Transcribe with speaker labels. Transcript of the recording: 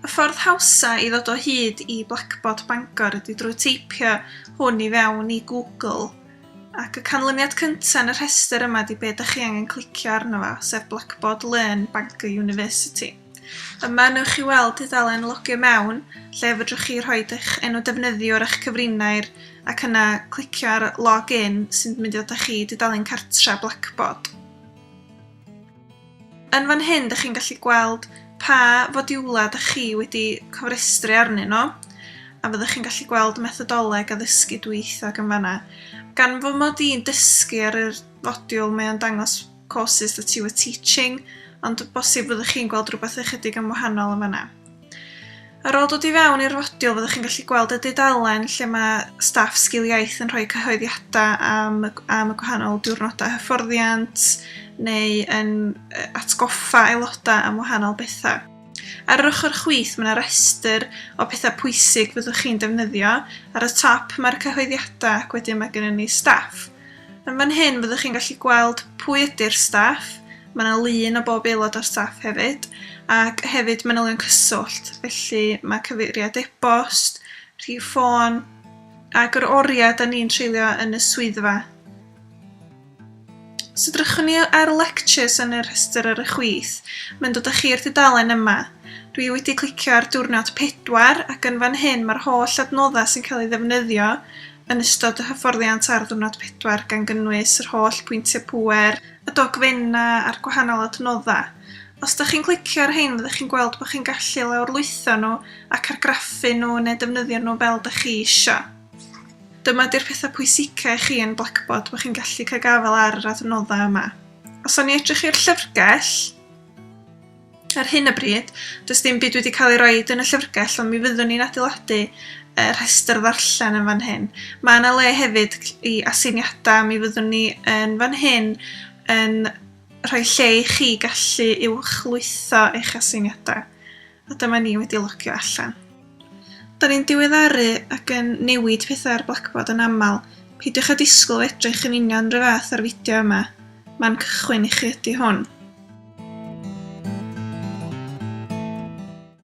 Speaker 1: Y ffordd hawsa i ddod o hyd i Blackboard Bangor ydy drwy teipio hwn i fewn i Google ac y canlyniad cyntaf yn y rhestr yma ydy be ydych chi angen clicio arno fo, sef Blackboard Learn Bangor University. Yma newch chi weld tudalen Logio Mewn lle fedrwch chi rhoi eich enw defnyddiwr a'ch cyfrinair ac yna clicio ar Log In sy'n mynd i ddod â chi i dudalen cartra Blackboard. Yn fan hyn dych chi'n gallu gweld pa fodiwlau dych chi wedi cofrestru arnyn nhw a fyddwch chi'n gallu gweld methodoleg addysgu dwyieithog yn fanna. Gan fy mod i'n dysgu ar yr fodiwl mae o'n dangos courses that you were teaching, ond bosib fyddwch chi'n gweld rhywbeth ychydig yn wahanol yn fanna. Ar ôl dod i fewn i'r fodiwl, fyddwch chi'n gallu gweld y dudalen lle mae staff sgil iaith yn rhoi cyhoeddiadau am, am y gwahanol diwrnodau hyfforddiant neu yn atgoffa aelodau am wahanol bethau. Ar yr ochr chwith mae yna restr o pethau pwysig fyddwch chi'n defnyddio. Ar y top mae'r cyhoeddiadau ac wedyn mae gennym ni staff. Yn fan hyn fyddwch chi'n gallu gweld pwy ydy'r staff, mae yna lun o bob aelod o'r staff hefyd, ac hefyd manylion cyswllt, felly mae cyfeiriad e-bost, rhif ffôn, ac yr oriau da ni'n treulio yn y swyddfa. Os edrychwn ni ar lectures yn y rhestr ar y chwith, mae'n dod â chi i'r dudalen yma. Dwi wedi clicio ar diwrnod 4 ac yn fan hyn mae'r holl adnoddau sy'n cael ei ddefnyddio yn ystod y hyfforddiant ar ddiwrnod pedwar gan gynnwys yr holl pwyntiau pŵer, y dogfennau a'r gwahanol adnoddau. Os dych chi'n clicio ar rhein fyddwch chi'n gweld bod chi'n gallu lawrlwytho nhw ac argraffu nhw neu defnyddio nhw fel dych chi eisiau. Dyma ydy'r pethau pwysicau i chi yn Blackboard bod chi'n gallu cael gafael ar yr adnoddau yma. Os awn ni edrych i'r llyfrgell, Ar hyn o bryd, does dim byd wedi cael ei roed yn y llyfrgell ond mi fyddwn ni'n adeiladu y rhestr ddarllen yn fan hyn. Mae yna le hefyd i aseiniadau, mi fyddwn ni yn fan hyn yn rhoi lle i chi gallu uwchlwytho eich aseiniadau. A dyma ni wedi logio allan. Da ni'n diweddaru ac yn newid pethau ar Blackboard yn aml, peidiwch â disgwyl edrych yn union rhyw fath â'r fideo yma, man cychwyn i chi ydi hwn.